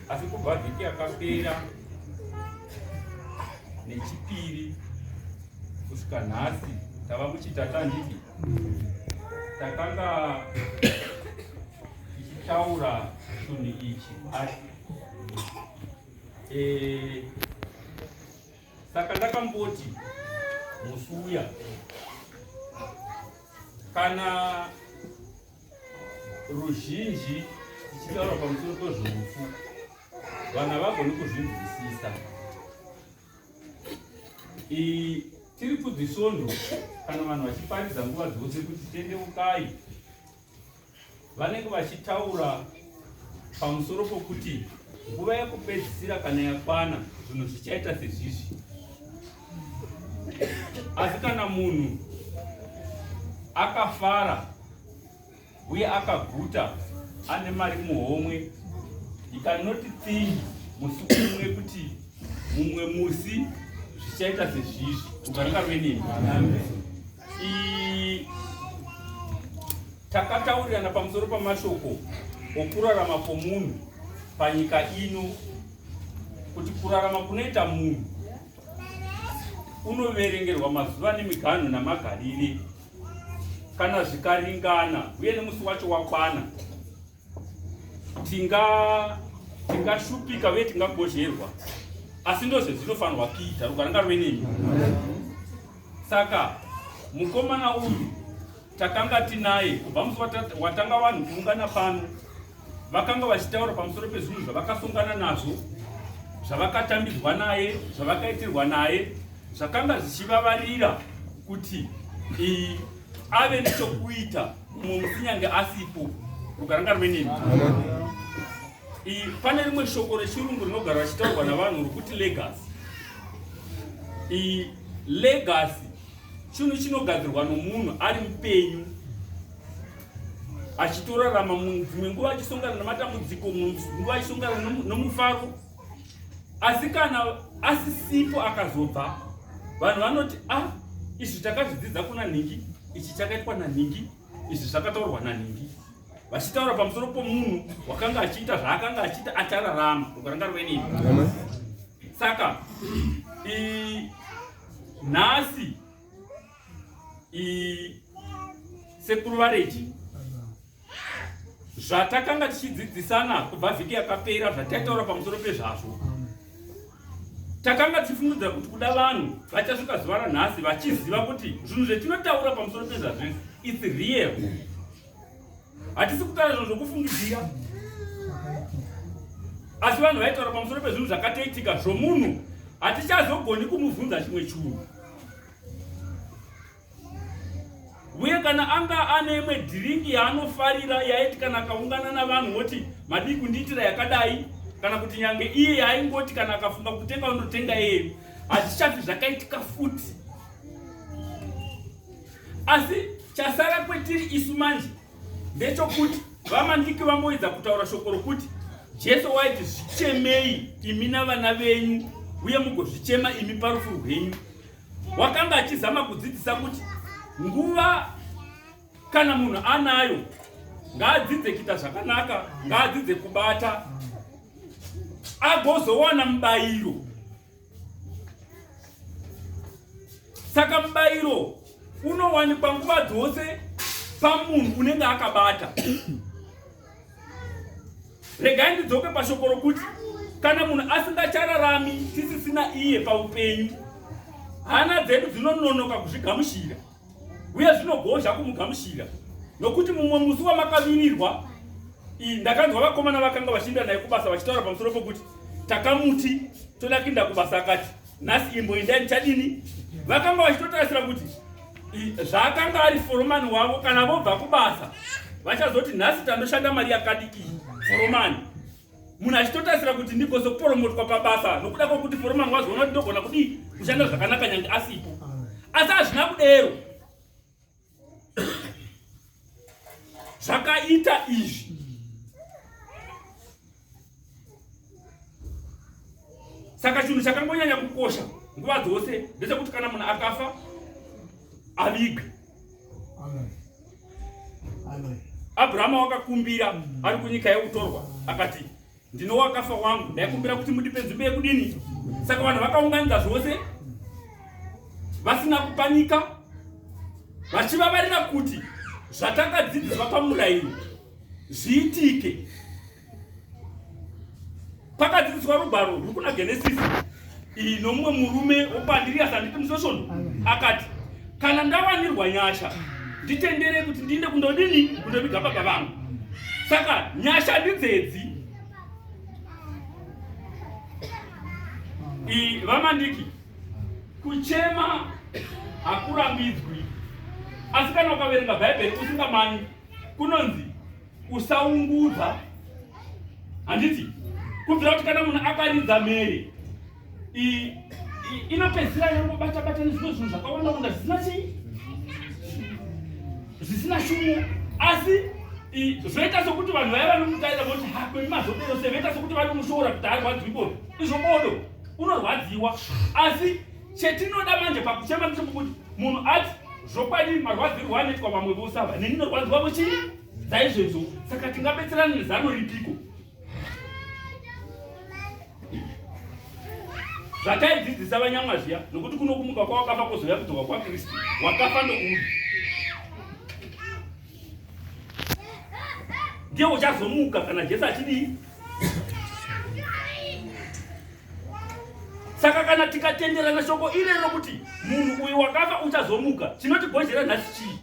asi kubva vhiki yakapera nechipiri kusvika nhasi tava muchitata ndiki takanga tichitaura chinhu ichi asi eh, saka ndakamboti musuya kana ruzhinji tichitaura pamusoro pezveufu vanhu havagoni kuzvinzwisisa tiri kudzisvondo kana vanhu vachiparidza nguva dzose kuti tendeukai vanenge vachitaura pamusoro pokuti nguva yekupedzisira kana yakwana zvinhu zvichaita sezvizvi Asi kana munhu akafara uye akaguta ane mari muhomwe, you cannot think musi umwe kuti mumwe musi zvichaita sezvizvi kugarika venini takataurirana pamusoro pamashoko okurarama kwomunhu panyika ino kuti kurarama kunoita munhu unoverengerwa mazuva nemiganhu namagarire kana zvikaringana uye nemusi wacho wakwana tingashupika uye tingagozherwa asi ndozvezvinofanirwa kuita rugaranga ruve nemi saka mukomana uyu takanga tinaye kubva musi watanga vanhu kuungana pano vakanga vachitaura pamusoro pezvinhu zvavakasongana nazvo zvavakatambidzwa naye zvavakaitirwa naye zvakanga zvichivavarira kuti ave nechokuita mumwe musinyange asipo rukaranga ruve nemi pane rimwe shoko rechirungu rinogara vachitaurwa navanhu rokuti legasi legasi chinhu chinogadzirwa nomunhu ari mupenyu achitorarama dzimwe nguva achisongana nematambudziko nguva achisongana nomufaro asi kana asisipo akazobva vanhu vanoti a ah, izvi takazvidzidza kuna nhingi ichi chakaitwa nanhingi izvi zvakataurwa nanhingi vachitaura pamusoro pomunhu wakanga achiita zvaakanga achiita achararama ukaranga rwenini saka nhasi sekuru vareji zvatakanga tichidzidzisana kubva vhiki yakapera zvataitaura pamusoro pezvazvo takanga tichifungidzira kuti kuda vanhu vachasvika zuva ranhasi vachiziva kuti zvinhu zvetinotaura pamusoro pezvazvo its real hatisi kutaura zvinhu zvokufungidzira asi vanhu vaitaura pamusoro pezvinhu zvakatoitika zvomunhu hatichazogoni kumubvunza chimwe chunhu uye kana anga ane imwe dhiringi yaanofarira yaiti kana akaungana navanhu woti madii kundiitira yakadai kana kuti nyange iye yaaingoti kana akafunga kutenga unotenga iye hazvichafi zvakaitika futi asi chasara kwetiri isu manje ndechokuti vamandiki vamboedza kutaura shoko rokuti jesu waiti zvichemei imi navana venyu uye mugozvichema imi parufu rwenyu wakanga achizama kudzidzisa kuti nguva kana munhu anayo ngaadzidze kuita zvakanaka ngaadzidze kubata agozowana mubayiro saka mubayiro unowanikwa nguva dzose pamunhu unenge akabata regai ndidzoke pashoko rokuti kana munhu asingachararami tisisina iye paupenyu hana dzedu dzinononoka kuzvigamushira uye zvinogozha kumugamushira nokuti mumwe musi wamakavirirwa iyi ndakanzwa vakomana vakanga vachiinda naye kubasa vachitaura pamusoro pokuti takamuti toda kuinda kubasa akati nhasi imbo indai ndichadini vakanga vachitotarisira kuti zvaakanga ari foromani wavo kana vobva kubasa vachazoti nhasi tandoshanda mari yakadiki foromani munhu achitotarisira kuti ndigozo kuporomotwa pabasa nokuda kwokuti foromani wazoona kuti ndogona kudii kushanda zvakanaka nyange asipo asi hazvina kudero zvakaita izvi saka chinhu chakangonyanya kukosha nguva dzose ndechekuti kana munhu akafa avigwe abrahama wakakumbira ari kunyika yekutorwa akati Ndino wakafa wangu, ndaikumbira kuti mundipe nzvimbo yekudini? Saka vanhu vakaunganidza zvose vasina kupanika vachivavarira kuti zvatakadzidziswa pamurayiro zviitike. Pakadzidziswa rugwaro rwuri kuna Genesisi iyi nomumwe murume wokwandiriyasi anditi musesvono akati kana ndawanirwa nyasha nditendere kuti ndiinde kundodini kundoviga baba vangu saka nyasha ndidzedzi iyi vamandiki kuchema hakurambidzwi asi kana ukaverenga bhaibheri usingamani kunonzi usaungudza handiti kubvira kuti kana munhu akaridza mhere inopedzisira yangobata bata nezvimwe zvinhu zvakawanda wanda zvisina chii zvisina shumo asi zvoita sokuti vanhu vaya vanomutaira voti ha kwemi mazodero se voita sokuti vanomushora kuti arwadziwi bodo izvo bodo unorwadziwa asi Chetinoda manje pakuchema ndechekuti munhu ati zvokwadi marwadzirwo anoitwa vamwe vose ava neni norwadziwavo chii dzaizvezvo saka tingabetserana nezano ripiko zvataidzidzisa vanyamwa zviya nokuti kuno kumuka kwawakafa kwozouya kudzoka kwakristu wakafa ndokuuya ndiye uchazomuka kana jesu achidii saka kana tikatenderana shoko iri rokuti munhu uyu wakafa uchazomuka chinotibhozhera nhasi chii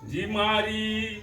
ndimwari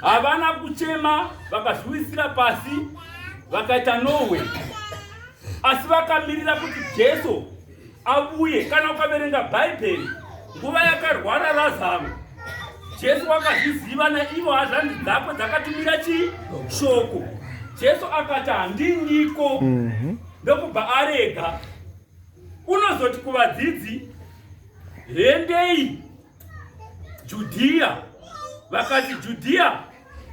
havana kuchema vakazviwisira pasi vakaita nowe asi vakamirira kuti jesu avuye kana ukaverenga bhaibheri nguva yakarwara razaro jesu wakazviziva naivo hazvandi dzako dzakatumira chii shoko jesu akati handiniko mhm. ndokubva arega unozoti kuvadzidzi hendei Judhiya vakati Judhiya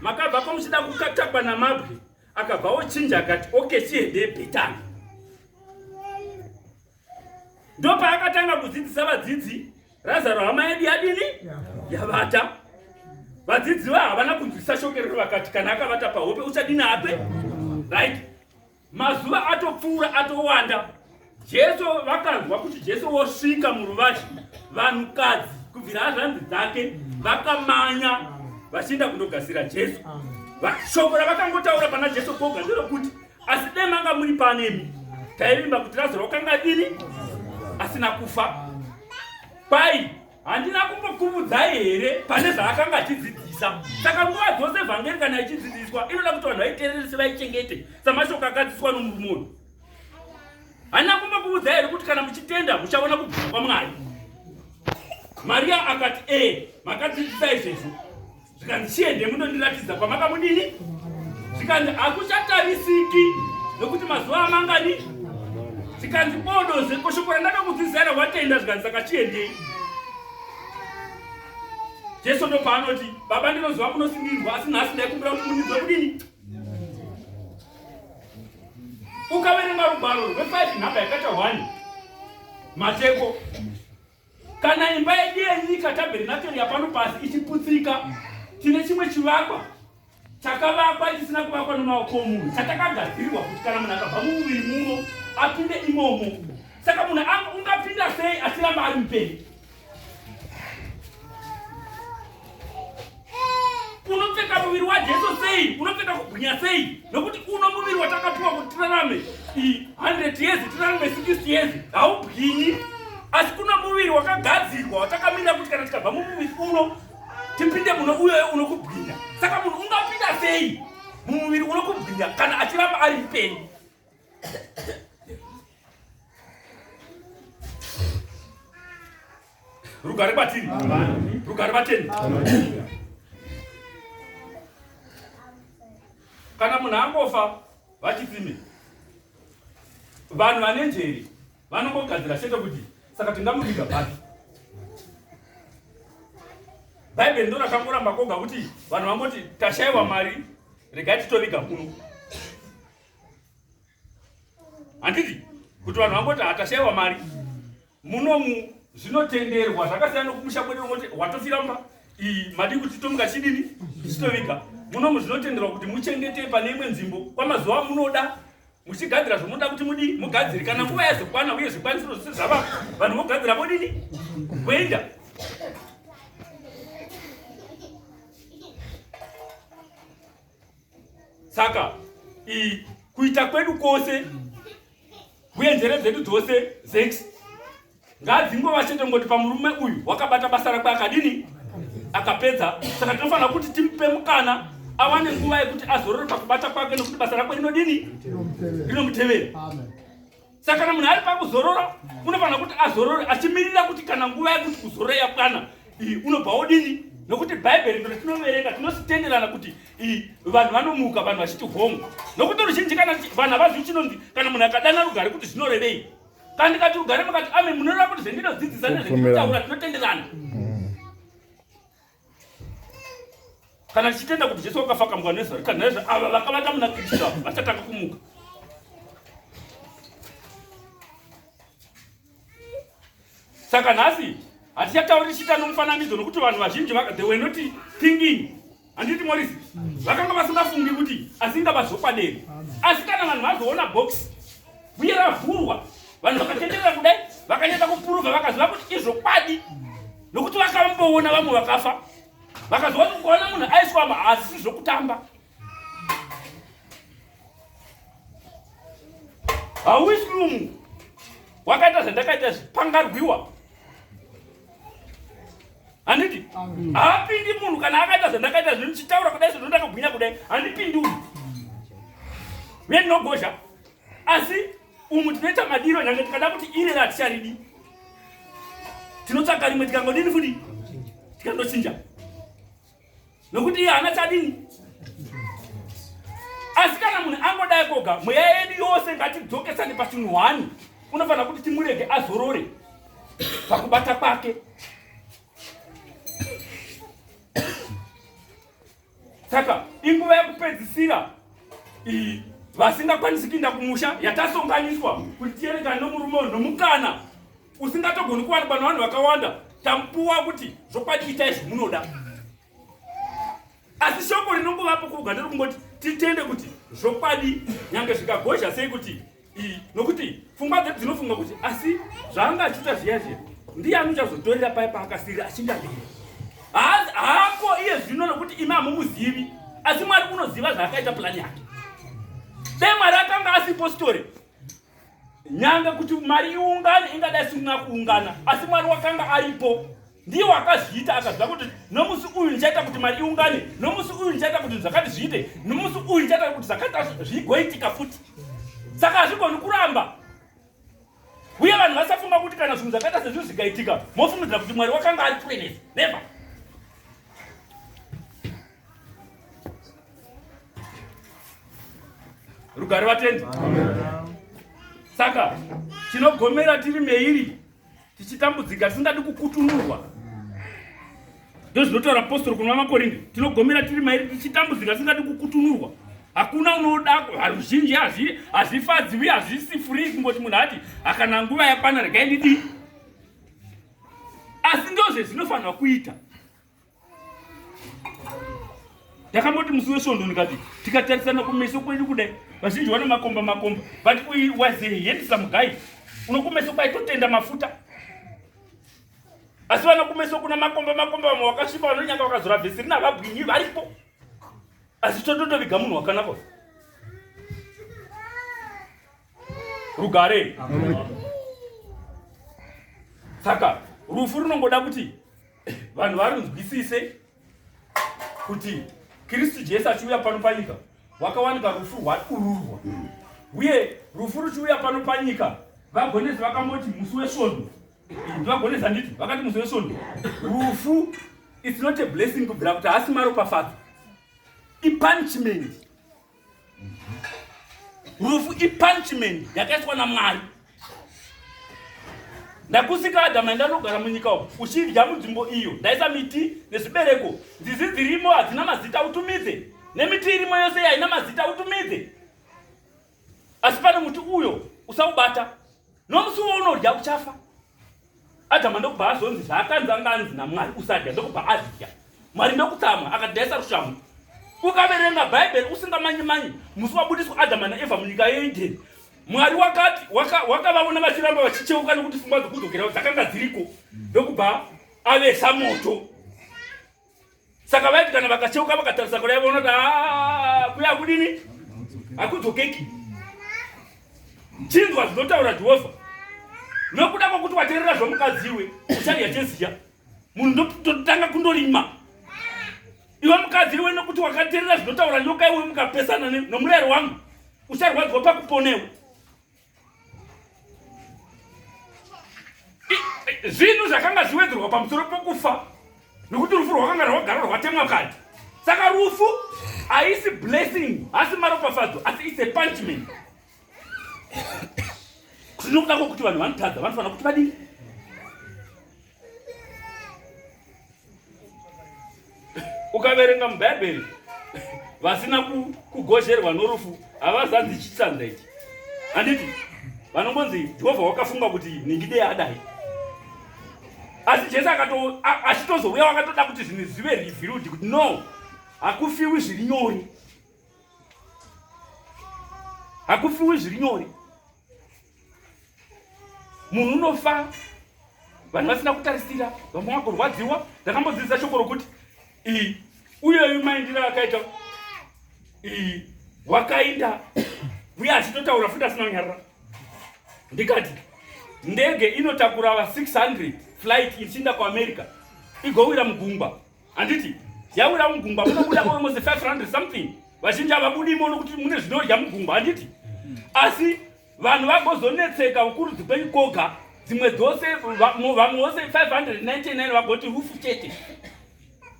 makabva kwamuchida kukatakwa namabwe akabva ochinja akati okay chiende Bhetani ndopaakatanga kudzidzisa vadzidzi Razaro hama yedu yadini yavata vadzidzi va havana kunzwisisa shoko rero vakati kana akavata pahope uchadini ape right Mazuva atopfuura atowanda. Jesu vakanzwa kuti Jesu wosvika muruvazhe. Vanhukadzi kubvira hazvanzi dzake vakamanya vachienda kundogasira Jesu. Shoko ravakangotaura pana Jesu poga nderokuti asi dai manga muri panemi taivimba kuti Lazaro wakanga dini asina kufa. Pai handina kumbokuvudzai here pane zvaakanga achidzidzisa saka nguva dzose vhangeri kana ichidzidziswa inoda kuti vanhu vaiteerere sevaichengete samashoko akadzidziswa nomurume uyu handina kumbokuvudzai here kuti kana muchitenda muchaona kubvuma kwamwari mariya akati ee makadzidzisa izvezvo zvikanzi chiende munondiratidza kwamakabudini zvikanzi hakuchatarisiki nokuti mazuva amangani zvikanzi bodo zvekoshoko randakakudzidzana watenda zvikanzi saka chiendei jesu ndopaanoti baba ndinoziva munosindirwa asi nhasi ndaikumbira kuti mundidzwe kudini ukaverenga rugwaro rwe5 nhamba yakaita 1 mateko Kana imba yedu yenyika tabernakeri yapano pasi ichiputsika, tine chimwe chivakwa chakavakwa chisina kuvakwa nemaoko omunhu chatakagadzirwa kuti kana munhu akabva mumuviri muno apinde imomo. Saka munhu ungapinda sei achiramba ari mupenyu? unopfeka muviri wajesu sei unopfeka kugwinya sei nokuti uno muviri watakapiwa kuti tirarame 100 years tirarame 60 years haubwinyi asi kuna muviri wakagadzirwa watakamira kuti kana tikabva mumuviri uno tipinde muno uyoyo unokubwinya saka munhu ungapinda sei mumuviri unokubwinya kana achiramba ari mupenyu rugare kwatiri rugare vateni kana munhu angofa vachipime vanhu vane njeri vanongogadzira chete kuti saka tingamuviga papi bhaibheri ndo rakangoramba koga kuti vanhu vangoti tashaiwa mari regai titoviga kuno handiti kuti vanhu vangoti hatashaiwa mari munomu zvinotenderwa zvakasiyana nokumusha kwedu vongoti watofira mba iyi madii kuti titomuka chidini tichitoviga munomu zvinotenderwa kuti muchengete pane imwe nzvimbo kwamazuva munoda muchigadzira zvomunoda kuti mudii mugadziri kana nguva yazokwana uye zvikwanisiro zvose zvava vanhu vogadzira vodini voenda saka i kuita kwedu kwose uye njere dzedu dzose zex ngadzingova chete ngoti pamurume uyu wakabata basa rakwe akadini akapedza saka tinofanira kuti timupe mukana awane nguva yekuti azorore pakubata kwake nekuti basa rakwe rinodini rinomutevera saka kana munhu ari pakuzorora unofanira kuti azorore achimirira kuti kana nguva yekuti kuzorora yakwana unobva wodini nokuti bhaibheri ndo ritinoverenga tinositenderana kuti vanhu vanomuka vanhu vachiti home nokuti ruzhinji kana vanhu havazvi chinonzi kana munhu akadana rugare kuti zvinorevei kana ndikati rugare makati ame munoreva kuti zvendinodzidzisa nezvendinotaura tinotenderana kana tichitenda kuti jesu wakafa kamugwa nezva rika naizvo ava vakavata muna kristu ava vachatanga kumuka saka nhasi hatichatauri tichiita nomufananidzo nokuti vanhu vazhinji they were not thinking handiti morisi vakanga vasingafungi kuti asingava zvokwaderi asi kana vanhu vazoona box uye ravhurwa vanhu vakatenderera kudai vakanyata kupuruvha vakaziva kuti izvokwadi nokuti vakamboona vamwe vakafa vakazoona kuona munhu aiswa maasi zvokutamba hauisi mumwe wakaita zvandakaita zvi pangarwiwa handiti haapindi munhu kana akaita zvandakaita zvi ndichitaura kudai sezvo ndakagwinya kudai handipindi uyu uye ndinogozha asi umu tinoita madiro nyange tikada kuti iri raticharidi tinotsvaka rimwe tikangodini futi tikandochinja nokuti iye hana chadini asi kana munhu angodai koga mweya yedu yose ngatidzokesane pachinhu hwani unofanira kuti timurege azorore pakubata kwake saka inguva yekupedzisira iyi vasingakwanisi kuinda kumusha yatasonganiswa kuti tiyerekane nomurume uyu nomukana usingatogoni kuwanikwa navanhu vakawanda tamupuwa kuti zvokwadi itai zvomunoda asi shoko rinongovapo kuuganda rokungoti titende kuti zvokwadi nyange zvikagozha sei kuti iyi nokuti pfungwa dzedu dzinofunga kuti asi zvaanga achiita zviya zviya ndiye anochazotorera paye paakasirira achingamira haako iye zvino nokuti imi hamumuzivi asi mwari unoziva zvaakaita pulani yake dai mwari akanga asipostori nyanga kuti mari iungane ingadai sina kuungana asi mwari wakanga aripo ndiye wakazviita akaziva kuti nomusi uyu ndichaita kuti mari iungane nomusi uyu ndichaita kuti zvakati zviite nomusi uyu ndichaita kuti zvakaita zvigoitika futi saka hazvigoni kuramba uye vanhu vasafunga kuti kana zvinhu zvakaita sezvinhu zvikaitika mofungidzira kuti mwari wakanga ari kure nezvi never rugare vatendi saka tinogomera tiri meiri tichitambudzika tisingadi kukutunurwa ndozvinotaura postori kuna makorinde tinogomera tiri mairi tichitambudzika tisingadi kukutunurwa hakuna unoda haruzhinji hazvifadzi uye hazvisi free kungoti munhu ati akana nguva yakwana regai ndidii asi ndozvezvinofanirwa kuita ndakamboti musi wesvondo ndikati tikatarisana kumeso kwedu kudai vazhinji vane makomba makomba but uyu was a handsome guy unokumeso kwaitotenda mafuta asi vana kumeso kuna makomba makomba vamwe vakasvipa vanonyanga vakazora vhesi rina vabwinyi varipo asi tototoviga munhu wakanaka rugare saka rufu runongoda kuti vanhu varinzwisise kuti kristu jesu achiuya pano panyika wakawanika rufu rwadururwa uye rufu ruchiuya pano panyika vagonesi vakamboti musi wesvondo ndivagonesi handiti vakati musi wesvondo rufu its not a blessing kubvira kuti haasi maropafadzo ipunishment rufu ipunishment yakaiswa namwari ndakusika adama ndanogara munyika umu uchidya munzvimbo iyo ndaisa miti nezvibereko nzizi dzirimo hadzina mazita utumidze nemiti irimo yose yaina mazita utumidze asi pane muti uyo usaubata nomusi wounodya uchafa adama ndokubva azonzi zvaakanzi anga anzi namwari usadya ndokubva azidya mwari ndokutsamwa akadhaisa rushamhu ukaverenga bhaibheri usingamanyi manyi musi wabudiswa adama naevha munyika yeedeni mwari wakati wakavaona waka vachiramba vachicheuka nekuti fungwa dzokudzokerawo dzakanga dziriko ndokubva avesa moto saka vaiti kana vakacheuka vakatarisa kudai vonoti ah, kuya hakudini hakudzokeki chinzwa zvinotaura jehovha nokuda kwokuti waterera zvomukadzi iwe uchadya cheziya munhu ndototanga kundorima iwe mukadzi iwe nokuti wakaterera zvinotaura nyoka iwe mukapesana nomurayiro wangu ucharwadziwa pakuponewe zvinhu zvakanga zviwedzerwa pamusoro pokufa nokuti rufu rwakanga rwagara rwatemwa kadi saka rufu haisi blessing hasi maropafadzo asi its a punishment kuti nokuda kwokuti vanhu vanotadza vanofanira kuti vadii ukaverenga mubhaibheri vasina kugozherwa norufu havazanzi chitsanza ichi handiti vanongonzi jehovha wakafunga kuti ningidei adai asi jesu achitozouya wakatoda kuti zvinhu zvive revealed kuti no hakufiwi zviri nyori hakufiwi zviri nyori munhu unofa vanhu vasina kutarisira vamwe vagorwadziwa ndakambodzidzisa shoko rokuti iyi uyeyu maindira akaita iyi wakainda uye achitotaura futi asina kunyarara ndikati ndege inotakura va 600 flight ichiinda kuamerica igowira mugungwa handiti yauya mugungwa munobuda almost 500 something vazhinji havabudi imono kuti mune zvinorya mugungwa handiti asi vanhu vagozonetseka ukurudzi kwenyu koga dzimwe dzose vamwe vose 599 vagoti rufu chete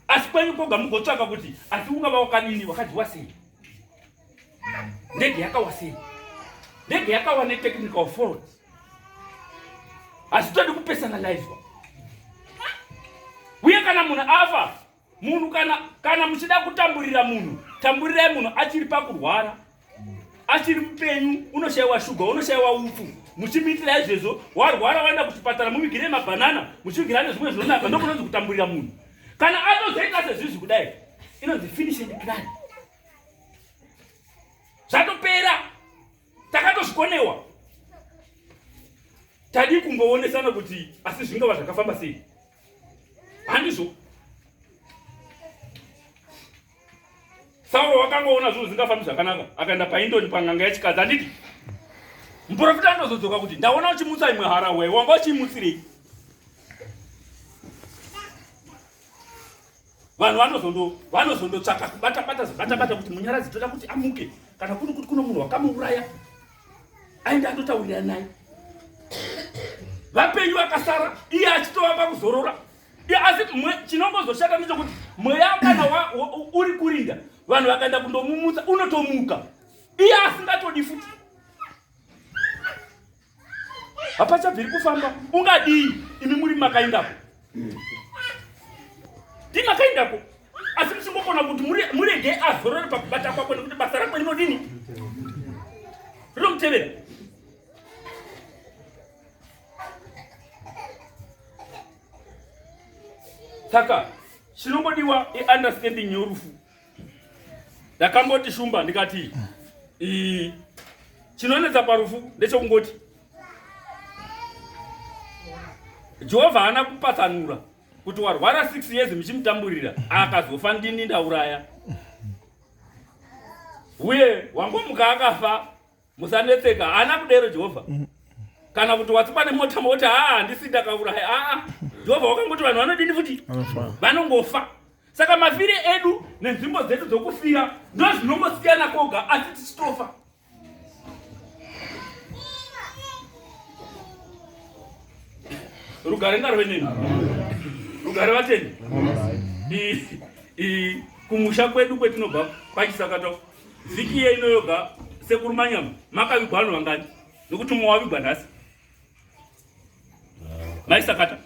asi kwenyu koga mugotsvaka kuti asi ungava wakadini wakadyiwa sei ndege yakawa sei ndege yakawa netechnical fault hazvitodi kupersonalizwa uye kana munhu afa munhu kana kana muchida kutamburira munhu tamburirai munhu achiri pakurwara achiri mupenyu unoshayiwa shuga unoshayiwa upfu muchimuitira izvezvo warwara waenda kuchipatara muvigirei mabhanana muchivigira nezvimwe zvinonaka ndokunonzi kutamburira munhu kana atozoita sezvizvi kudai inonzi finish and cry zvatopera takatozvikonewa tadii kungoonesana kuti asi zvingava zvakafamba sei handizvo sauro wakangoona zvinhu zvingafambi zvakanaka akaenda paindoni panganga yechikadzi handiti muprofita anozodzoka kuti ndaona uchimutsa imwe hara wee wanga uchiimutsirei vanhu vanozondo vanozondotsvaka kubata bata zibata bata kuti munyaradzi toda kuti amuke kana kuri kuti kuno munhu wakamuuraya aende andotaurira naye vapenyu vakasara iye achitova pakuzorora asi chinongozoshata ndechokuti mweya kana uri kurinda vanhu vakaenda kundomumutsa unotomuka iye asingatodi futi hapachabviri kufamba ungadii imi muri makaindako ndi makaindako asi muchingokona kuti murege azorore pakubata kwako nekuti basa rako rinodini rinomutevera saka chinongodiwa iunderstanding yorufu ndakamboti shumba ndikati ii chinonetsa parufu ndechokungoti jehovha haana kupatsanura kuti warwara six years muchimutamburira akazofa ndini ndauraya uye wangomuka akafa musanetseka haana kudero jehovha kana kuti watsikwa nemota moti haa handisi ndakaurayi aa jehovha wakangoti vanhu vanodini futi vanongofa saka mafire edu nenzvimbo dzedu dzokufira ndozvinongosiyana koga asi tichitofa rugare ngarwe nini rugare vateni kumusha kwedu kwetinobva pachisakatwa Vhiki iye ino yoga sekuru Manyama makavigwa vanhu vangani? Nokuti mumwe wavigwa nhasi. Maisakata.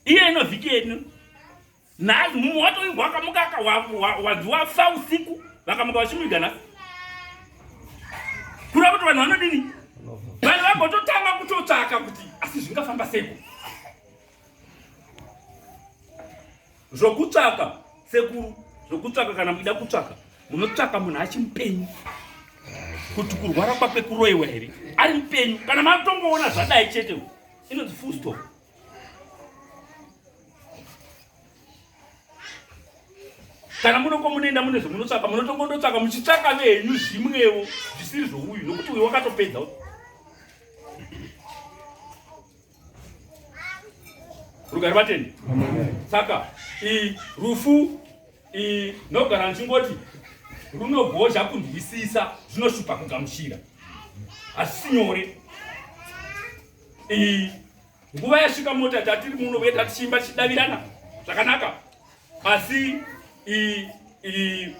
Iye ino vhiki ino nhasi mumwe watovigwa akamuka wazi wafa usiku vakamuka vachimuviga nhasi. Kura kuti vanhu vanodini? Vanhu vagototanga kutotsvaka kuti asi zvingafamba seiko? zvokutsvaka sekuru zvokutsvaka kana muchida kutsvaka munotsvaka munhu achi mupenyu kuti kurwara kwake kuroiwa here ari mupenyu kana matongoona zvadai chete inonzi full stop kana munoko munoenda mune zvomunotsvaka munotongondotsvaka muchitsvaka venyu zvimwewo zvisiri zvouyu nokuti uyu wakatopedza rugare vatende saka i rufu i nogara ndichingoti runogozha kunzwisisa zvinoshupa kugamuchira hazvisi nyore i nguva yasvika mota tatiri muno uye tatichimba tichidavirana zvakanaka asi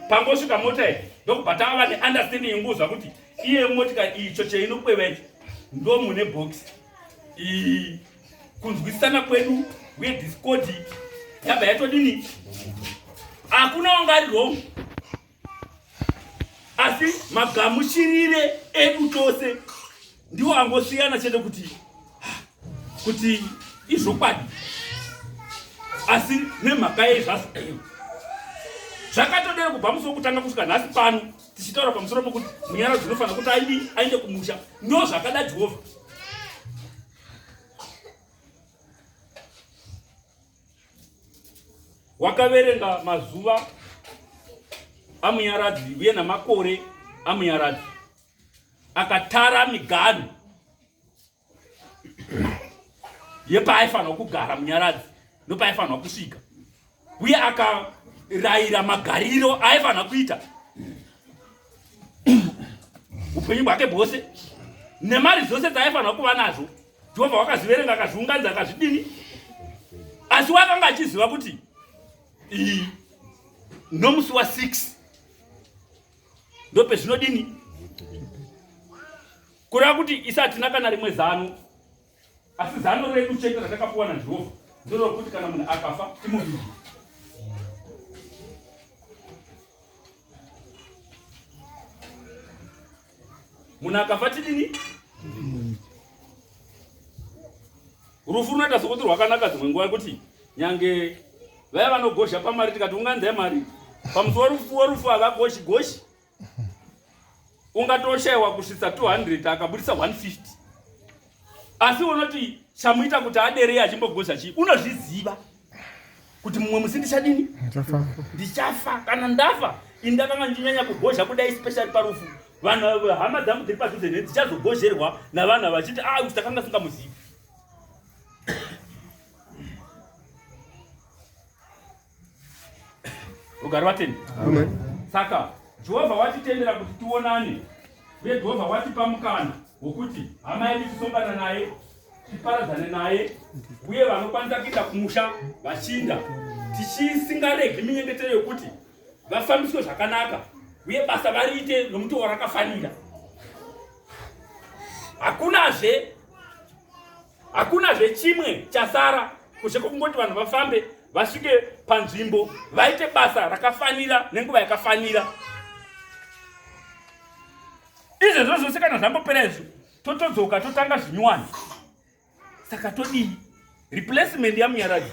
pangosvika mota iyi ndokubva tava neunderstanding yenguzva kuti iye motika icho cheinokweva icho ndo mune box kunzwisisana kwedu uye discodi yabva yatodini hakuna wanga ari wrong asi magamuchirire edu tose ndiwo angosiyana chete kuti kuti izvokwadi asi nemhaka yei zvazvo zvakatodero kubva musi wokutanga kusvika nhasi pano tichitaura pamusoro pokuti munyara dzinofanira kuti aidi aende kumusha ndo zvakada jehovha wakaverenga mazuva amunyaradzi uye namakore amunyaradzi akatara miganhu yepaaifanirwa kugara munyaradzi ndopaaifanirwa kusvika uye akarayira magariro aifanirwa kuita upenyu bwake bwose nemari dzose dzaaifanirwa kuva nazvo Jehovha wakaziverenga akazviunganidza akazvidini, asi wakanga achiziva kuti iyi nomusi wa 6 ndopezvinodini kureva kuti isi hatina kana rimwe zano asi zano redu chete ratakapuwa najehovha ndorokuti kana munhu akafa timuvigi munhu akafa tidini rufu runoita sokuti rwakanaka dzimwe nguva yekuti nyange vaya vanogozha pamari tikati unganzai mari pamusi werufu werufu havagoshi goshi ungatoshayiwa kusvitsa 200 akabudisa 150 asi unoti chamuita kuti aderei achimbogoza chii unozviziva kuti mumwe musi ndichadini ndichafa kana ndafa ini ndakanga ndichinyanya kugozha kudai especially parufu vanhu hama dzangu dziri padhuze ne dzichazogozherwa navanhu vachiti a ah, kuti takanga singamuzivi rugare vatende saka jehovha watitendera kuti tionane uye jehovha watipa mukana wokuti hama yedu tisongana naye tiparadzane naye uye vanokwanisa kuenda kumusha vachinda tichisingaregi minyengetero yokuti vafambiswe zvakanaka uye basa variite nomutoo rakafanira hakunazve hakuna zvechimwe chasara kushe kwokungoti vanhu vafambe vasvike panzvimbo vaite basa rakafanira nenguva yakafanira izvezvo zvose kana zvambopera izvo totodzoka totanga zvinyuwani saka todii replacement yamunyaraji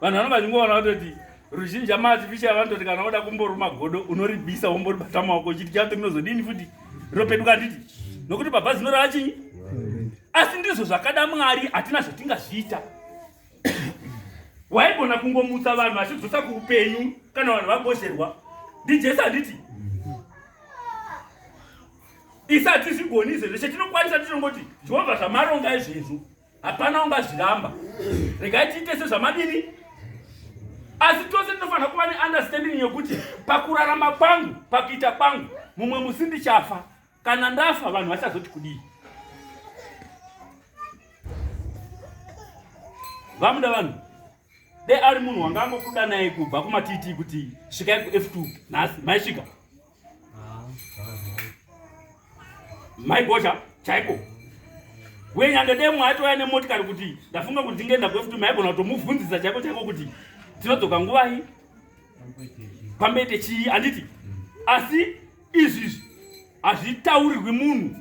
vanhu vanonga vachingoona kutoti ruzhinji amaartificial vanototi kana woda kumboruma godo unoribisa womboribata maoko uchiti chake ndinozodini futi ropeduka handiti nokuti baba zino rachinyi asi ndizvo zvakada mwari hatina zvatingazviita waigona kungomutsa vanhu vachidzosa kuupenyu kana vanhu vagozherwa ndijesu handiti isati zvigoni izvezvo chetinokwanisa tinongoti jehovha zvamaronga izvezvo hapana ungazviramba regai tiite sezvamadini asi tose tinofanira kuva neunderstanding yekuti pakurarama kwangu pakuita kwangu mumwe musi ndichafa kana ndafa vanhu vachazoti kudii vamuda vanhu dai ari munhu wanga angokuda naye kubva kumatiti kuti svikai kuf2 nhasi maisvika maigocha chaiko uye nyange dai mwaitouya nemotikari kuti ndafunga kuti ndingeenda kuf2 maigona kutomubvunzisa chaiko chaiko kuti tinodzoka nguvai pamboite chii handiti asi izvizvi hazvitaurirwi munhu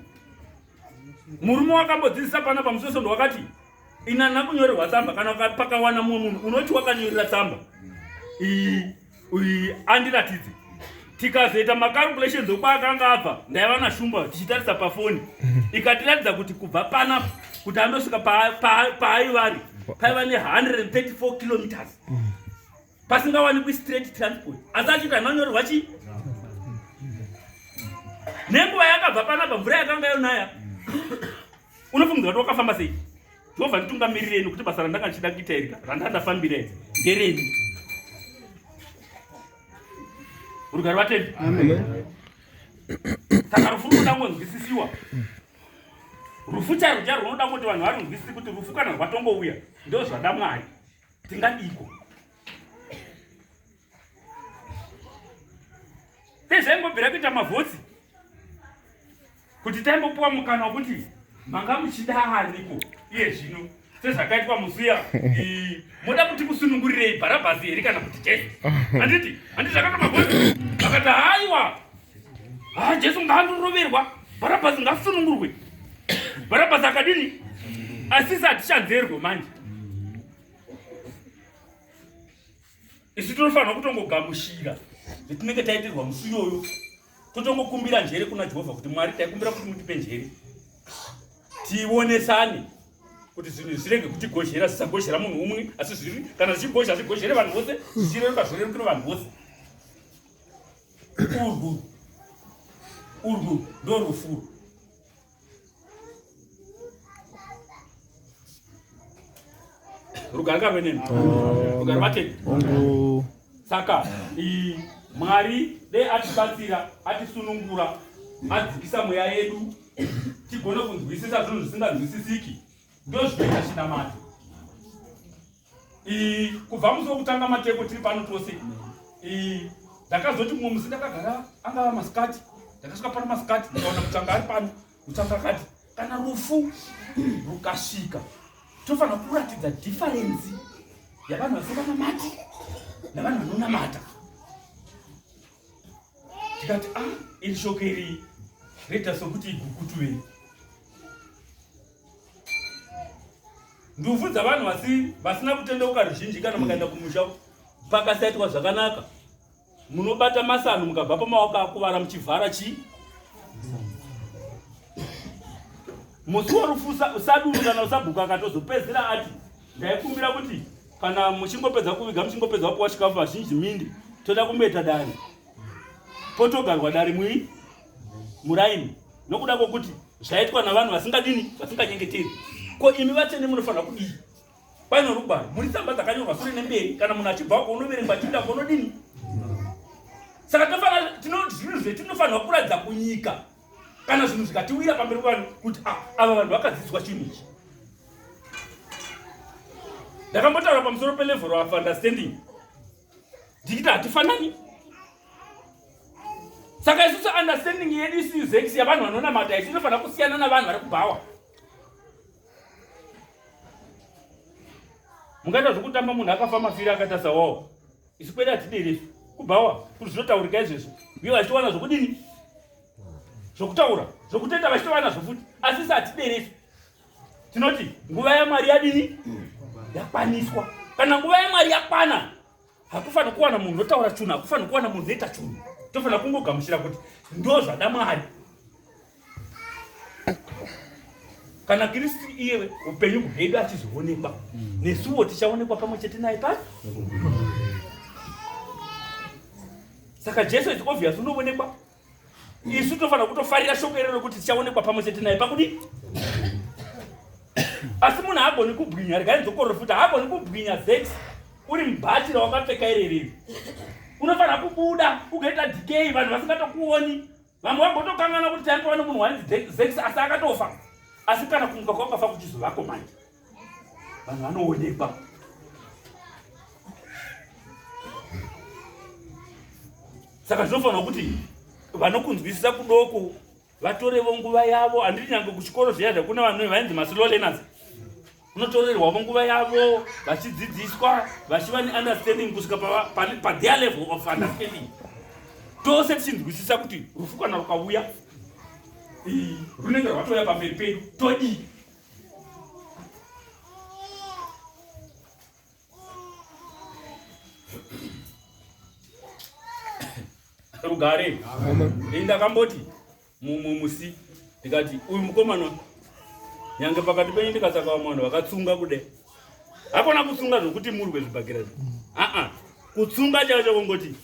murume wakambodzidzisa pana pamusosondo wakati ina nakunyorerwa tsamba kana pakawana mumwe munhu unoti wakanyorera tsamba iyi andiratidze tikazoita macalculations okwaakanga abva ndaiva nashumba tichitarisa pafoni ikatiratidza kuti kubva panapa kuti andosvika paaivari paiva ne 134 kilometers pasingawanikwi straight transport asi achiita anonyorerwa chii nenguva yakabva panapa mvura yakanga yonaya unofungidzira kuti wakafamba sei jehovha nditungamirireni kuti basa randanga ndichida kuita iri randanga ndafambira iri ndereni rugari vatendi saka rufu runoda kungonzwisisiwa rufu chairo chairo runoda kuti vanhu varunzwisisi kuti rufu kana rwatongouya ndo zvada mwari Tingadiko? Tezvaingobvira kuita mavhotsi kuti taimbopuwa mukana wekuti manga muchida aniko iye zvino sezvakaitwa muzuya moda kuti kusunungurirei bharabhasi here kana kuti jesu handiti handiti zvakaita mavhotsi akati haiwa haa jesu ngaandoroverwa bharabhasi ngasunungurwe bharabhasi akadini asisi hatichanzerwe manje isu tinofanirwa kutongogamushira zvetinenge taitirwa musi iyoyo totongokumbira njere kuna jehovha kuti mwari taikumbira kuti mutipe njere tionesane kuti zvinhu zvirege kutigozhera zvisagozhera munhu umwe asi zviri kana zvichigozha zvigozhere vanhu vose zvichireruka zvorerukiro vanhu vose urwu urwu ndorufu rugare karweneni rugare mateni saka mwari dei atibatsira atisunungura adzikisa mweya yedu tigone kunzwisisa zvinhu zvisinganzwisisiki ndozvinoita chinamato kubva musi wekutanga mateko tiri pano tose ndakazoti mumwe musi ndakagara angava masikati ndakasvika pano masikati ndikaona kuti anga ari pano mutsanga akati kana rufu rukasvika tofanira kuratidza dhifarensi yavanhu vasinganamati navanhu vanonamata tikati a ah, iri shoko iri reta sokuti igukutuvei ndufu dzavanhu vasi vasina kutendeuka ruzhinji kana mukaenda kumusha pakasaitwa zvakanaka munobata masanhu mukabva pamaoko akuvara muchivhara chii musi warufu usaduru kana usabhuka akatozopedzera ati ndaikumbira kuti kana muchingopedza kuviga muchingopedza kupuwa chikafu vazhinji mindi toda kumeta dare potogarwa dare mui muraini nokuda kwokuti zvaitwa navanhu vasingadini vasinganyengeteri ko imi vatsvene munofanira kudii paino rugwaro muri tsamba dzakanyorwa sure nemberi kana munhu achibva ko unoverengwa achiinda konodini saka tofanira tinozvinhu zve tinofanirwa kuratidza kunyika kana zvinhu zvikatiwira pamberi vanhu kuti ah, ava vanhu vakadzidzwa chinhu ichi ndakambotaura pamusoro pelevhero of understanding ndichiti hatifanani saka isusu understanding yedu isiyu zex yavanhu vanonamata isu inofanira kusiyana navanhu vari kubhawa mungaita zvekutamba munhu akafa mafiri akatasa wawo isu kwedi hatideresu kubhawa kuti zvinotaurika izvezvo uye vachitowana zvokudini zvokutaura zvokutenda vachitowana zvofuti asi isi hatideresu tinoti nguva yamwari yadini yakwaniswa kana nguva yamwari yakwana hakufanira kuwana munhu notaura chunhu hakufanira kuwana munhu noita chunhu tofanira kungogamuchira kuti ndo zvada mwari kana kristu iye upenyu hwedu achizvionekwa mm. nesuwo tichaonekwa pamwe chete naye pa saka jesu is obvious unoonekwa isu tofanira kutofarira shoko iro rekuti tichaonekwa pamwe chete naye pakudii asi munhu haagoni kubwinya regai ndokororo futi haagoni kubwinya zex uri mubatira wakapfeka irereri unofanira kubuda ukaita dikei vanhu vasingatokuoni vamwe vambotokangana kuti taimbowa nomunhu wainzi zex asi akatofa asi kana kumuka kwakafa kuchizovako manje vanhu vanoonekwa saka zvinofanira kuti vanokunzwisisa kudoko vatorevo nguva yavo handiri nyange kuchikoro zviya zvakuna vanhu vainzi maslow learners unotorerwavo nguva yavo vachidzidziswa vachiva neunderstanding kusvika patheir level of understanding tose tichinzwisisa kuti rufu kana rukauya runenge rwatouya pamberi pedu todii rugare ndakamboti mumwe musi ndikati uyu mukomana nyange pakati penyu ndikatsaka vamwe vanhu vakatsunga kude hakona kutsunga zvokuti murwe zvibhakira zvi aa kutsunga chacho kongoti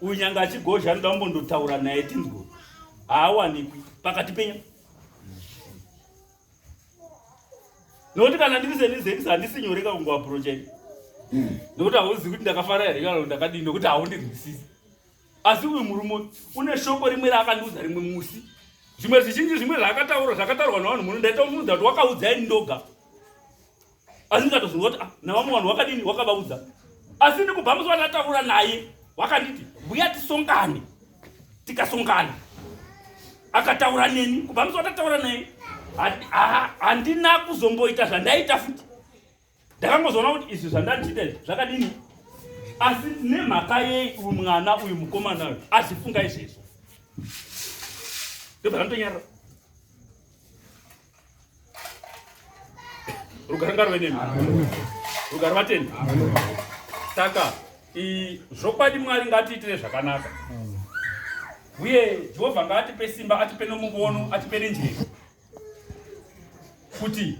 uyu nyange achigozha anoda kumbondotaura naye tinzwa haawanikwi pakati penyu nokuti kana ndiri senizex handisi nyore ka kungoaprocha ini nokuti hauzivi kuti ndakafara here kana ndakadii nokuti haundirwisisi asi uyu murume une shoko rimwe raakandiudza rimwe musi zvimwe zvizhinji zvimwe zvaakataura zvakataurwa navanhu muno ndaita umuudza kuti wakaudza ini ndoga asi ndikatozonzwa kuti ah, navamwe vanhu wakadini wakavaudza asi ndikubva musi vandataura naye wakanditi mbuya tisongane tikasongana akataura neni kubva musi vandataura naye handina kuzomboita zvandaita futi ndakangozoona kuti izvi zvandandiita izvi zvakadini asi nemhaka yei uyu mwana uyu mukomana uyu azifunga izvezvo ndobva ndanyarara rugare ngarwe nemi rugare vatende saka zvokwadi mwari ngatiitire zvakanaka uye jehovha ngaatipe simba atipe nomuvono atipe nenjere kuti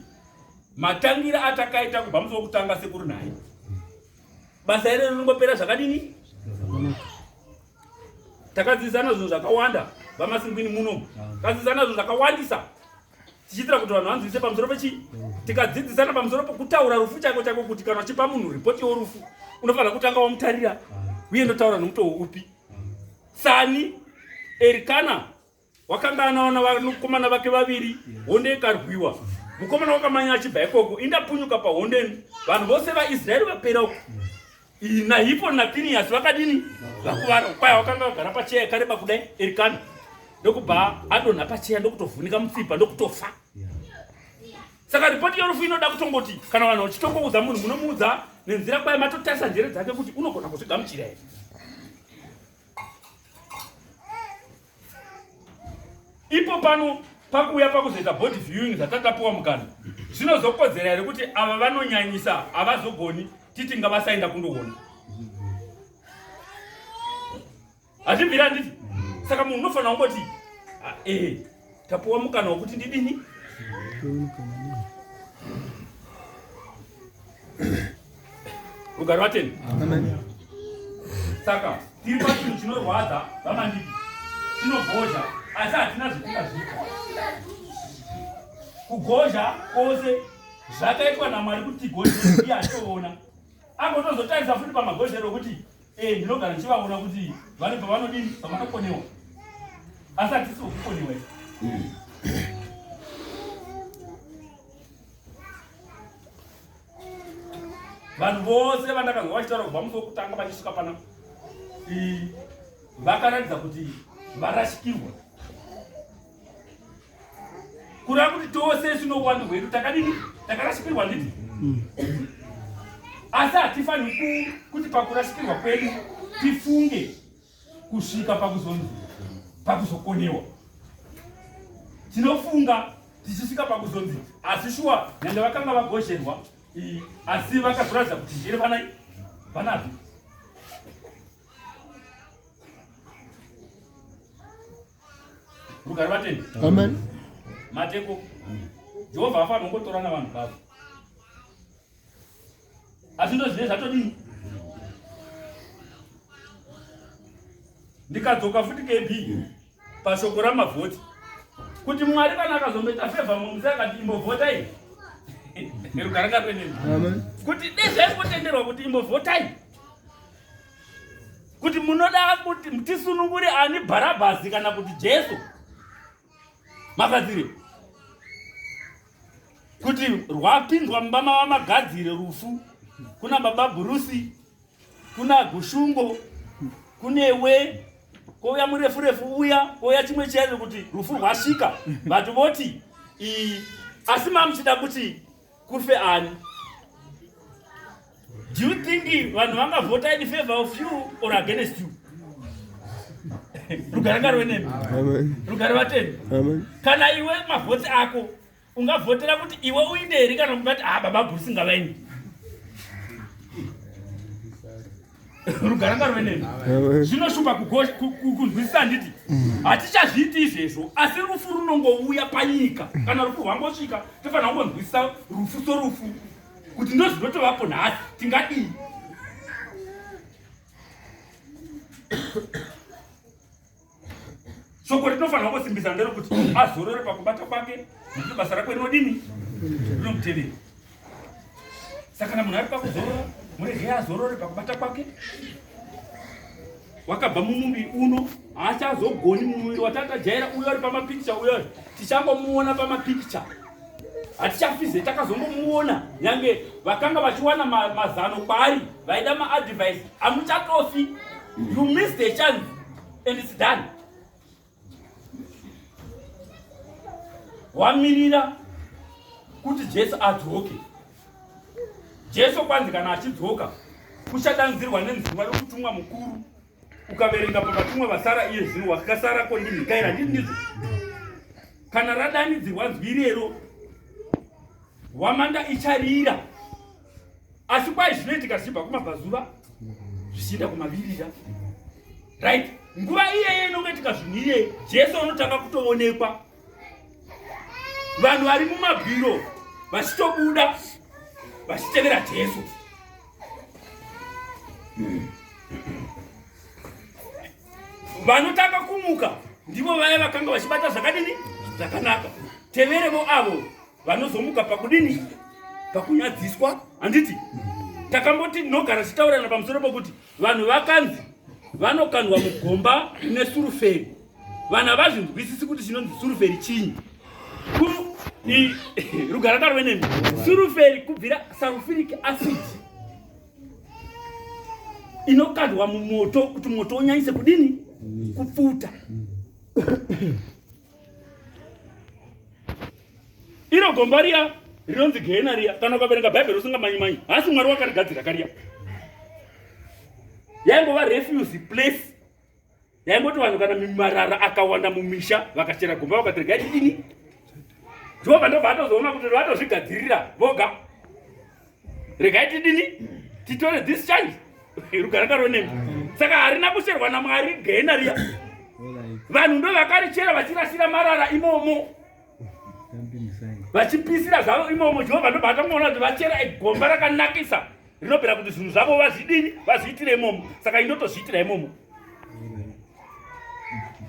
matangira atakaita kubva musi wokutanga sekuru naye basa iro rinongopera zvakadini takadzidzana zvinhu zvakawanda vamasingwini muno takadzidzana zvinhu zvakawandisa tichiitira kuti vanhu vanzwise pamusoro pechii tikadzidzisana pamusoro pekutaura rufu chaiko chaiko kuti kana uchipa munhu ripoti yorufu unofanira kutanga wamutarira uye ndotaura nomutoo upi sani erikana wakanga anawana vanakomana vake vaviri honde ikarwiwa mukomana wakamanya achibva ikoko indapunyuka pahondeni vanhu vose vaisraeri vapera uko nahipo nafiniyasi vakadini vakuvara kwaya wakanga vagara pacheya yakareba kudai erikana ndokubva adonha pacheya ndokutovhunika mutsipa ndokutofa saka ripoti yorufu inoda kutongoti kana vanhu vachitongoudza munhu munomuudza nenzira kwaya matotarisa njere dzake kuti unogona kuzvigamuchira here ipo pano pakuuya pakuzoita body viewing zvatatapuwa mukana zvinozokodzera here kuti ava vanonyanyisa havazogoni titi ngavasaenda kundoona hazvibvira nditi saka munhu unofanira kungoti ah, ee tapuwa mukana wekuti ndidini rugare vateni saka tiri pachinhu chinorwadza vamandiki chinogozha asi hatina zvitingazvita kugozha kwose zvakaitwa namwari kuti tigozhe iye atoona agotozotarisa futi pamagozhero okuti e eh, ndinogara ndichivaona kuti vane pavanodini pavanokonewa asi hatisi vokukonewa hmm. vanhu vose vandakanzwa vachitaura kubva musi wokutanga vachisvika pana vakaratidza kuti varashikirwa kureva kuti tose sinowani hwedu takadini takarashikirwa ndidi mm. asi hatifaniri kuti pakurashikirwa kwedu tifunge kusvika pakuzonzi pakuzokonewa tinofunga tichisvika pakuzonzi asi shuwa nyange vakanga vagozherwa asi vakazoratidza kuti njere vana vanadzo rugari vatendi amen mateko jehovha afa anongotora navanhu vavo asi ndozvine zvatodii ndikadzoka futi kb pashoko ramavhoti kuti mwari kana akazomboita fevha mumuse akati imbovhotai rugara ngaruenei kuti dezvaimbotenderwa kuti imbovhotai kuti munoda kuti tisunungure ani bharabhasi kana kuti jesu magadzire kuti rwapindwa mumba mava magadzire rufu kuna baba bhurusi kuna gushungo kunewe kouya murefu refu uya kouya chimwe chaizvo kuti rufu rwasvika vati voti asi mamuchida kuti Kufe ani? Do you think vanhu vanga vote in favor of you or against you? Rugare ngarwe nemi. Amen. Rugare vatemi. Amen. Kana iwe mavhoti ako ungavhotera kuti iwe uinde here kana kungati ah baba Bruce ngavaende. rugara ngarove nemi zvinoshupa kunzwisisa handiti hatichazviiti izvezvo asi rufu runongouya panyika kana rufu rwangosvika tofanira kungonzwisisa rufu sorufu kuti ndozvinotovapo nhasi tingadii soko rinofanira kusimbisa ndero kuti azorore pakubata kwake nekuti basa rako rinodini rinomutevera saka kana munhu ari pakuzorora murege azorore pakubata kwake wakabva mumuviri uno haachazogoni mumuviri watatajaira uyo ari pamapikicha uyo ari tichangomuona pamapikicha hatichafize takazongomuona nyange vakanga vachiwana mazano kwaari vaida maadvice amuchatofi you miss the chance and it's done wamirira kuti jesu adzoke jesu kwanzi kana achidzoka uchadanzirwa nenziva yokutumwa mukuru ukaverenga pavatumwa vasara iye zvino wakasara kondimhikaira ndii ndizvo kana radanidzirwa nzwi irero hwamanda icharira asi kwai zvinoitika zvichibva kumabvazuva zvichienda kumavirira right nguva iyeyo inongaitika zvinhu iyeyi jesu anotanga kutoonekwa vanhu vari mumabwiro vachitobuda vachitevera jesu vanotanga kumuka ndivo vaya vakanga vachibata zvakadini zvakanaka teverevo avo vanozomuka pakudini pakunyadziswa handiti takamboti tinogara tichitaurirana pamusoro pokuti vanhu vakanzi vanokandwa mugomba rine suruferi vanhu havazvinzwisisi kuti chinonzi suruferi chinyi rugara tarwe nemi suruferi kubvira sarufiric acid inokandwa mumoto kuti moto unyanyise kudini kupfuta iro gomba riya rinonzi gehena riya kana ukaverenga bhaibheri usingamanyi manyi hasi mwari wakarigadzira kariya yaingova refuse place yaingoti vanhu kana mimarara akawanda mumisha vakachera gomba vakatirega yachidini jehovha ndobva atozoona kuti vatozvigadzirira voga regai tidini titore this child rugaranga ronembi saka harina kucherwa namwari gena riya vanhu ndo vakarichera vachirasira marara imomo vachipisira zvavo imomo jehovha ndobva atangoona kuti vachera egomba rakanakisa rinobvira kuti zvinhu zvavo vazvidini vazviitira imomo saka indotozviitira imomo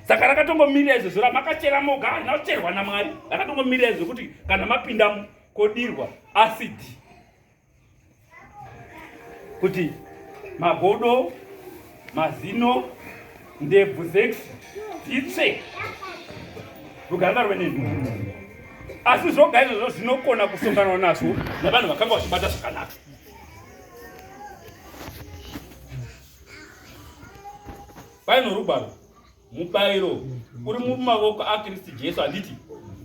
saka rakatongomirira izvozvo ramakachera moga harina kucherwa namwari rakatongomirira izvokuti kana mapindamo kodirwa acid kuti magodo mazino ndebvu zex dzitsve ruganda rwenenhu asi zvoga izvozvo zvinokona kusonganwa nazvo navanhu vakanga vachibata zvakanaka paino rugwaro mubairo uri mumavoko akristu jesu handiti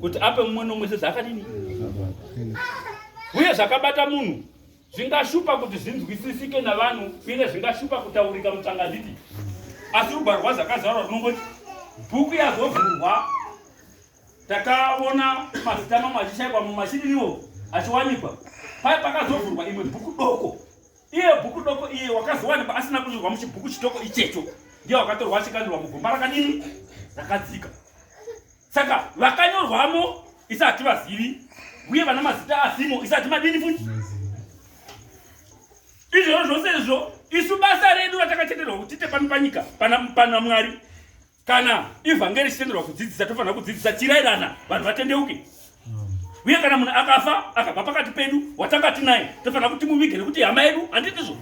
kuti ape mumwe nomwe sezvaakadini uye zvakabata munhu zvingashupa kuti zvinzwisisike navanhu uye zvingashupa kutaurika mutsanga handiti asi rugwaro rwazvakazvarwa runongoti bhuku yazovhurwa takaona mazita mamwe achishaikwa mumwe achidiniwo achiwanikwa paye pakazovhurwa imwe bhuku doko Iye bhuku doko iye wakazowanikwa asina kunyorwa muchibhuku chitoko ichecho ndiye wakatorwa achikandirwa mugomba rakadini rakadzika. Saka vakanyorwamo isa hativazivi uye vana mazita asimo isa hatimadini futi. Izvozvo zvose izvo isu basa redu ratakatenderwa kuti tite pano panyika pana, pana Mwari kana ivhangeri ichitenderwa kudzidzisa tofanira kudzidzisa chirairana vanhu vatendeuke uye kana munhu akafa akabva pakati pedu watanga tinaye tofanira kuti muvige nekuti hama yedu handitizvo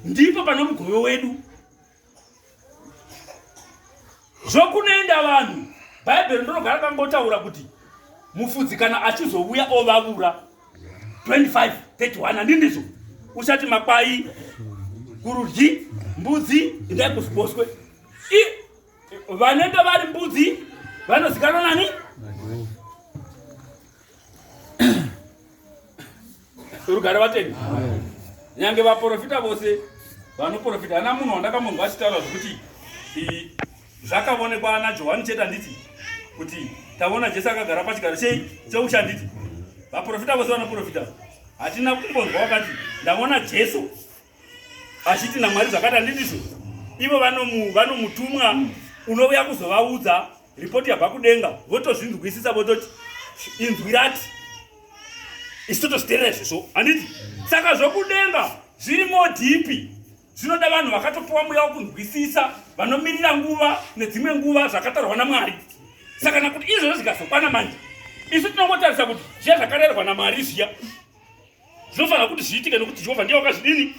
ndipo pane mugove wedu zvokunoenda vanhu bhaibheri ndinogara kangotaura kuti mufudzi kana achizouya ovavura 25 31 handii ndizvo usati makwai kurudyi mbudzi indai kuziboswe vanenge vari mbudzi vanozikanwa nani rugare vateni nyange vaprofita vose vanoprofita hana munhu wandakamunhu vachitaura zvekuti zvakavonekwa ana johani chete handiti kuti tavona jesu akagara pachigaro chei cheuchi handiti vaprofita vose vanoprofita hatina kumbonzwa wakati ndavona jesu achiti namwari zvakati handitiso ivo vanomutumwa unouya kuzovaudza ripoti yabva kudenga votozvinzwisisa vototi inzwi rati isu totozviterera izvozvo handiti saka zvokudenga zviri modhipi Zvinoda vanhu vakatopiwa mweya wokunzwisisa, vanomirira nguva nedzimwe nguva zvakatarwa naMwari. Saka kana kuti izvozvo zvikazokwana manje, isu tinongotarisa kuti zviya zvakarerwa naMwari zviya zvinofanira kuti zviitike nokuti Jehovha ndiye wakazvidini.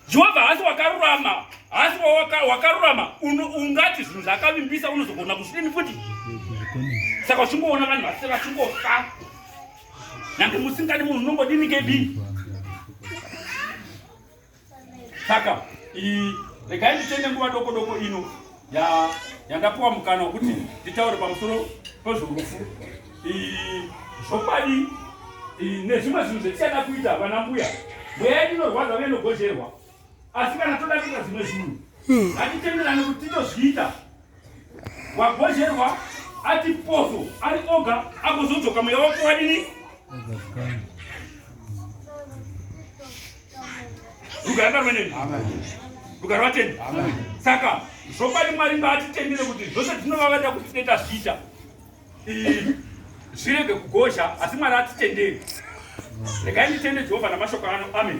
Jehovha haasi wakarurama, haasi wakarurama ungati zvinhu zvaakavimbisa unozogona kuzvidini futi. Saka uchingoona vanhu vase vachingofa Nyange musingadi munhu unongodini KB? Saka i regai nditende nguva doko doko ino ya yandapuwa mukana wekuti nditaure pamusoro pezvorufu. I zvopadi nezvimwe zvinhu zvetisada kuita vana mbuya. Mweya inorwadza vene gozherwa. asi kana toda kuita zvimwe zvinhu hmm. hatitenderani kuti titozviita wagozherwa ati poso ari oga agozodzoka mweya wako wadini rugare ndarweneni rugare vatende saka zvopadi mwari ngaatitendere kuti zvose zvinovavada kuti tinoita zviita zvirege kugozha asi mwari atitenderi regai nditende jehovha namashoko ano amen